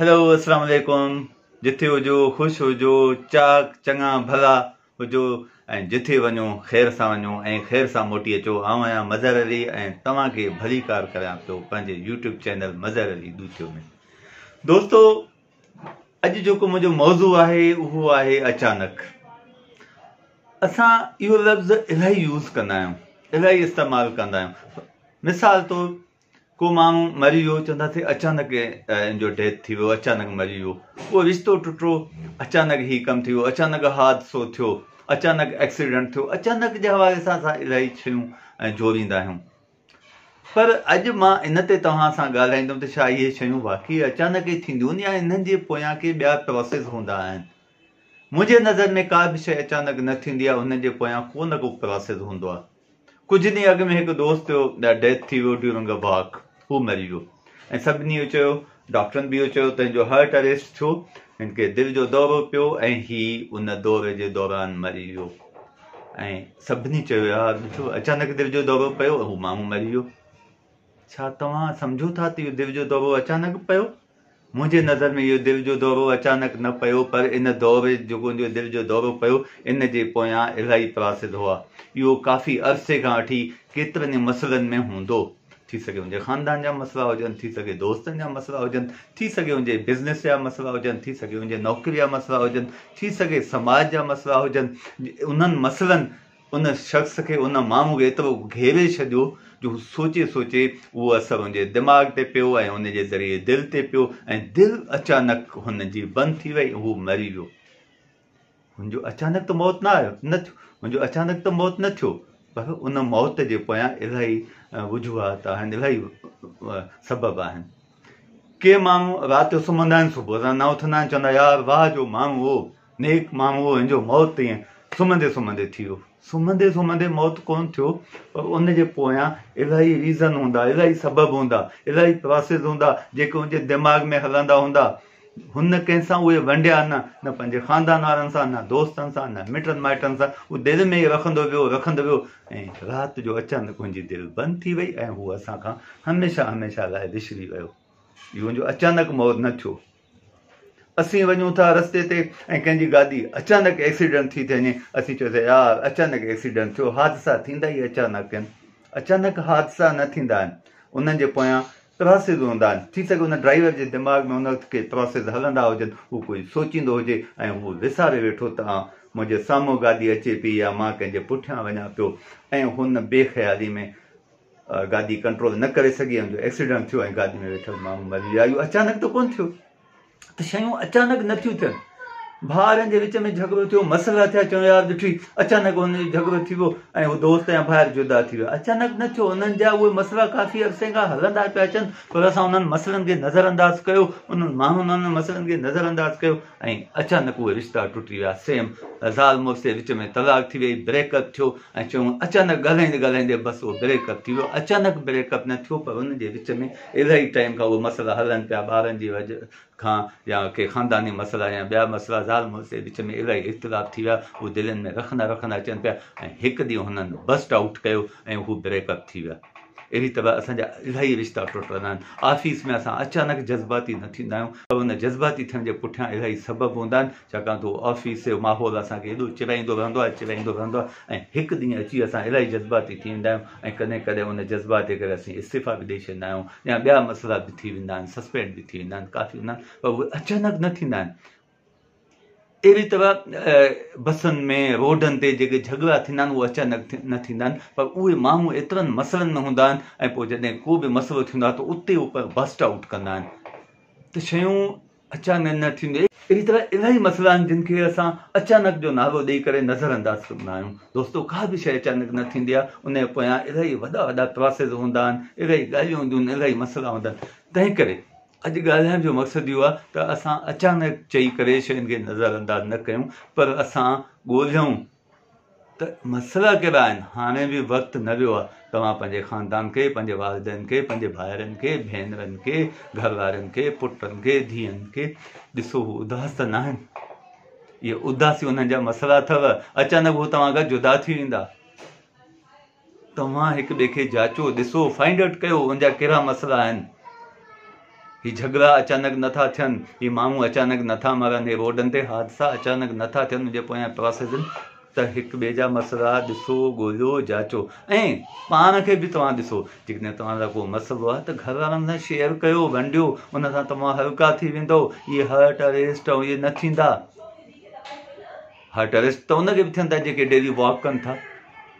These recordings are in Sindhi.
هلو اسلام عليڪم جٿي هجو خوش هجو چاق چڱا ڀلا هجو ۽ جٿي وڃو خير سان وڃو ۽ خير سان موٽي اچو آئون آهيان مظهر علي ۽ توهان کي ڀليڪار ڪريان پيو پنهنجي يوٽيوب چينل مظهر علي ڏوٿيو ۾ دوستو اڄ جيڪو منهنجو موضوع آهي اهو آهي اچانڪ اسان اهو لفظ الاهي يوز ڪندا آهيون الاهي استعمال ڪندا آهيون مثال طور ڪو ماڻهو مري ويو چوندا ٿي اچانڪ ان جو ڊيٿ ٿي ويو اچانڪ مري ويو اهو رشتو ٽٽو اچانڪ هي ڪم ٿي ويو اچانڪ حادثو ٿيو اچانڪ ايڪسيڊنٽ ٿيو اچانڪ جي حوالي سان اسان الائي شيون جوڙيندا آهيون پر اڄ مان ان تي توهان سان ڳالهائيندم ته ڇا اهي شيون واقعي اچانڪ ئي ٿينديون يا انهن جي پويان ڪي ٻيا پروسيس هوندا آهن منهنجي نظر ۾ ڪا به شيء اچانڪ نه ٿيندي آهي انهن جي پويان ڪو نه ڪو پروسيس هوندو آهي ڪجهه ڏينهن اڳ ۾ هڪ دوست جو ڊيٿ ٿي ويو ڊيورنگ ا واڪ هو مري ويو ۽ سڀني اهو چيو ڊاڪٽرن به اهو چيو ته هن جو هارٽ اريسٽ ٿيو هن کي دل جو دورو پيو ۽ هي ان دوري جي دوران مري ويو ۽ سڀني چيو يار ڏٺو اچانڪ دل جو دورو پيو هو ماڻهو مري ويو ڇا توهان سمجھو ٿا ته اهو دل جو دورو اچانڪ پيو منهنجي نظر ۾ اهو دل جو دورو اچانڪ نه پيو پر ان دوري جيڪو ان جو دل جو دورو پيو ان جي پويان الاهي پراسد هئا اهو ڪافي عرصي کان وٺي ڪيترن ئي مسئلن ۾ هوندو ٿي سگهي ان جي خاندان جا مسئلا هجن ٿي سگهي دوستن جا مسئلا هجن ٿي سگهي ان جي بزنس جا مسئلا هجن ٿي سگهي ان جي نوڪري جا مسئلا هجن ٿي سگهي سماج جا مسئلا هجن انهن مسئلن ان شخص کي ان ماڻهو کي ايترو گهيري ڇڏيو جو هو سوچي سوچي اهو اثر ان جي دماغ تي پيو ۽ ان جي ذريعي دل تي پيو ۽ دل اچانڪ هن جي بند ٿي وئي ۽ هو مري ويو هن جو اچانڪ ته موت نه آيو نه ٿيو هن جو اچانڪ ته موت نه ٿيو پر ان موت جي پويان الاهي وجوهات آهن الاهي سبب آهن ڪي ماڻهو رات جو سمهندا آهن صبح سان نه اٿندا آهن چوندا يار واهه جو ماڻهو هو نيڪ ماڻهوء جو موت تيئن سمهندي سمهندي ٿي ويو. سمهندي سمهندي موت ڪونه ٿيو، پر ان جي پويان الاهي ريزن هوندا، الاهي سبب هوندا، الاهي پراسيس هوندا، جيڪي ان جي دماغ ۾ هلندا هوندا. هن ڪنهن سان اهي ونڊيا نه، نه پنهنجي خاندان وارن سان، نه دوستن سان، نه مٽن مائٽن سان، هو دل ۾ ئي رکندو ويو، رکندو ويو ۽ رات جو اچانڪ ان جي دل بند ٿي وئي ۽ هو اسان کان هميشه هميشه لاء وسري ويو. اهو ان جو اچانڪ موت نه ٿيو. اسين وڃون ٿا رستي تي ۽ ڪنهن جي گاڏي اچانڪ ايڪسيڊنٽ ٿي ٿي وڃي اسين چون ٿا يار اچانڪ ايڪسيڊنٽ ٿيو حادثا ٿيندا ئي اچانڪ آهن اچانڪ حادثا نه ٿيندا آهن انهن جي پويان پراسيز هوندا آهن ٿي سگهي ان ڊرائيور جي دماغ ۾ ان وقت ڪي پراسيز هلندا هجن هو ڪجهه سوچيندو هجي ۽ هو وساري ويٺو ته آن منهنجي سامهون گاڏي اچي پئي يا مان ڪنهن جي پٺيان وڃان پيو ۽ هن بي خيالي ۾ گاڏي ڪنٽرول نه ڪري سگهي ۽ جو ايڪسيڊنٽ ٿيو ۽ گاڏي ۾ ويٺل ماڻهو مري ويا اهو اچانڪ ته ڪونه ٿيو ته شيون اچانڪ نه ٿيون ٿين ڀائرن جي وچ ۾ جھڳڙو ٿيو مسئلا ٿيا چون يار ڏٺي اچانڪ هن جو جھڳڙو ٿي ويو ۽ هو دوست يا ڀائر جدا ٿي ويا اچانڪ نه ٿيو انهن جا اهي مسئلا ڪافي عرصي کان هلندا پيا اچن پر اسان انهن مسئلن کي نظر انداز ڪيو انهن ماڻهن انهن مسئلن کي نظر انداز ڪيو ۽ اچانڪ اهي رشتا ٽٽي ويا. سيم، زال مڙس جي وچ ۾ طلاق ٿي ويئي، بريڪ اپ ٿيو ۽ چون اچانڪ ڳالهائيندي ڳالهائيندي بس اهو بريڪ اپ ٿي ويو. اچانڪ بريڪ اپ نه ٿيو پر ان جي وچ ۾ الائي ٽائيم کان اهي مسئلا هلن پيا ٻارن جي وجه کان يا ڪي خانداني مسئلا يا ٻيا مسئلا زال مڙس جي وچ ۾ الائي اختلاف ٿي ويا اهي دلين ۾ رکندا رکندا اچن پيا ۽ هڪ ڏينهن هنن بسٽ آئوٽ ڪيو ۽ اهو بريڪ اپ ٿي ويا. اهڙي طرح اسان جا الاهي رشتا ٽٽندا آهن. آفيس ۾ اسان اچانڪ جذباتي نه ٿيندا آهيون پر ان جذباتي ٿيڻ جي پٺيان الاهي سبب هوندا آهن ڇاڪاڻ ته آفيس جو ماحول اسان کي ايڏو چرائيندو رهندو آهي چرائيندو رهندو آهي ۽ هڪ ڏينهن اچي اسان الاهي جذباتي ٿي ويندا آهيون ۽ ڪڏهن ڪڏهن ان جذبات جي ڪري اسين استعيفا به ڏئي ڇڏيندا آهيون يا ٻيا مسئلا به ٿي ويندا آهن سسپينڊ به ٿي ويندا آهن ڪافي هوندا آهن پر اهي اچانڪ نه ٿيندا آهن اهڙي طرح بسن ۾ روڊن تي جيڪي جهڳڙا ٿيندا آهن اهي اچانڪ نه ٿيندا آهن پر اهي ماڻهو ايترن مسئلن ۾ هوندا آهن ۽ پوء جڏهن ڪو به مسئلو ٿيندو آهي ته اتي اهو بسٽ آئوٽ ڪندا آهن ته شيون اچانڪ نه ٿينديون اهڙي طرح الاهي مسئلا آهن جن کي اسان اچانڪ جو نعرو ڏيئي ڪري نظر انداز ڪندا آهيون دوستو ڪا به شيء اچانڪ نه ٿيندي آهي ان جي پويان الاهي وڏا وڏا پراسيس هوندا آهن الاهي ڳالهيون هونديون آهن الاهي مسئلا هوندا آهن تنهن ڪري اڄ ڳالهائڻ جو مقصد اهو آهي ته اسان اچانڪ چئي ڪري شين کي نظر انداز نه ڪيون پر اسان ڳولهيون ته مسئلا ڪهڙا آهن هاڻي به وقت نه ويو آهي توهان پنهنجي خاندان کي پنهنجي والدين کي پنهنجي ڀائرن کي ڀينرن کي گهر وارين کي پٽن کي ڌيئن کي ڏسو هو اداس ته ناهن اهي اداسي انهن جا مسئلا اٿو اچانڪ هو توهان کان جدا ٿي ويندا توهان هڪ ٻئي کي جاچو، ڏسو، Find Out ڪيو ان جا ڪهڙا مسئلا آهن. هي جهڳڙا اچانڪ نه ٿا ٿين، هي ماڻهو اچانڪ نه ٿا مرن، هي روڊن تي حادثا اچانڪ نه ٿا ٿين، ان جي پويان پراسيس آهن ته هڪ ٻئي جا مسئلا ڏسو، ڳوليو، جاچو ۽ پاڻ کي به توهان ڏسو. جيڪڏهن توهان لاء ڪو مسئلو آهي ته گهر وارن سان شيئر ڪيو، ونڊيو، ان سان توهان هلڪا ٿي ويندؤ، اهي هرٽ اريسٽ ۽ اهي نه ٿيندا. هرٽ اريسٽ ته ان کي به ٿين ٿا جيڪي ڊيلي واڪ ڪن ٿا.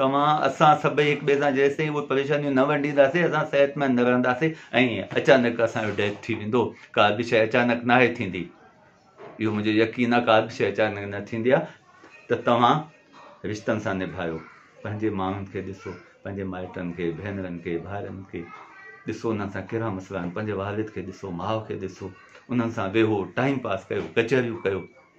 توهان اسان سڀئي هڪ ٻئي سان جيستائين اهي پريشانيون نه ونڊينداسين اسان صحتمند نه رهنداسين ۽ اچانڪ اسان جو ڊيٿ ٿي ويندو ڪا به شيء اچانڪ ناهي ٿيندي اهو منهنجو يقين آهي ڪا به شيء اچانڪ نه ٿيندي آهي ته توهان رشتن سان نڀايو پنهنجي ماڻهن کي ڏسو پنهنجي مائٽن کي ڀينرن کي ڀائرن کي ڏسو انهن سان ڪهڙا مسئلا آهن پنهنجي والد کي ڏسو ماء کي ڏسو انهن سان ويهو ٽائيم پاس ڪيو ڪچهريون ڪيو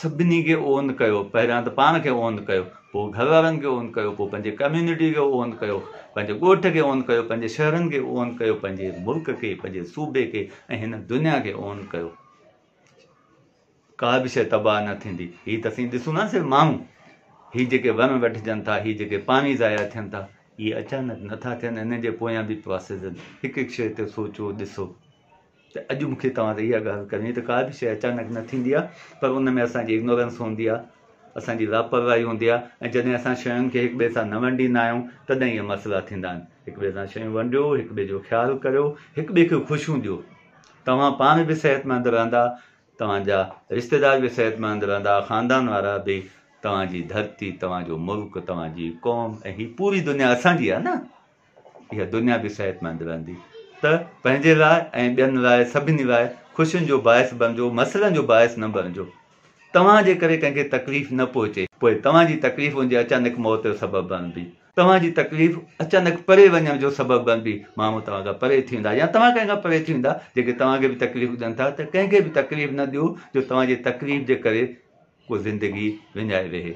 سڀني کي اوندھ ڪيو پهريان ته پاڻ کي اوندھ ڪيو پوء گهر وارن کي اوندھ ڪيو پوء پنهنجي ڪميونٽي کي اوندھ ڪيو پنهنجي ڳوٺ کي اوندھ ڪيو پنهنجي شهرن کي اوندھ ڪيو پنهنجي ملڪ کي پنهنجي صوبي کي ۽ هن دنيا کي اوندھ ڪيو ڪا به شيء تباهه نه ٿيندي هي ته اسين ڏسون نا صرف ماڻهو هي جيڪي ون وٺجن ٿا هي جيڪي پاڻي ضايع ٿين ٿا اهي اچانڪ نٿا ٿين انهن جي پويان به پراسيس هڪ هڪ شيء تي سوچو ڏسو ته اڄ مون کي توهان سان اها ڳالهه ڪرڻي ته ڪا به شيء اچانڪ نه ٿيندي آهي پر ان ۾ اسان جي اگنورنس هوندي آهي اسان جي لاپرواهي هوندي آهي ۽ جڏهن اسان شين کي هڪ ٻئي سان نه ونڊيندا آهيون تڏهن اهي مسئلا ٿيندا آهن هڪ ٻئي سان شيون ونڊيو هڪ ٻئي جو خيال ڪريو هڪ ٻئي کي خوشيون ڏيو توهان پاڻ به صحتمند رهندا توهان جا رشتي دار به صحتمند رهندا خاندان وارا به توهان جي ڌرتي توهان جو ملڪ توهان جي قوم ۽ هي پوري دنيا اسان جي آهي نه اها دنيا به صحتمند رهندي ته پنهنجي لاء ۽ ٻين لاء سڀني لاء خوشين جو باعث بڻجو مسئلن جو باعث نه بڻجو توهان جي ڪري ڪنهن کي تڪليف نه پهچي پوء توهان جي تڪليف ان جي اچانڪ موت جو سبب بڻبي توهان جي تڪليف اچانڪ پري وڃڻ جو سبب بڻبي ماڻهو توهان کان پري ٿي ويندا يا توهان ڪنهن کان پري ٿي ويندا جيڪي توهان کي به تڪليف ڏين ٿا ته ڪنهن کي به تڪليف نه ڏيو جو توهان جي تڪليف جي ڪري ڪو زندگي وڃائي ويهي.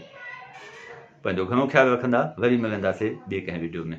پنهنجو گهڻو خيال رکندا وري ملنداسي ٻي ڪنهن وڊيو ۾.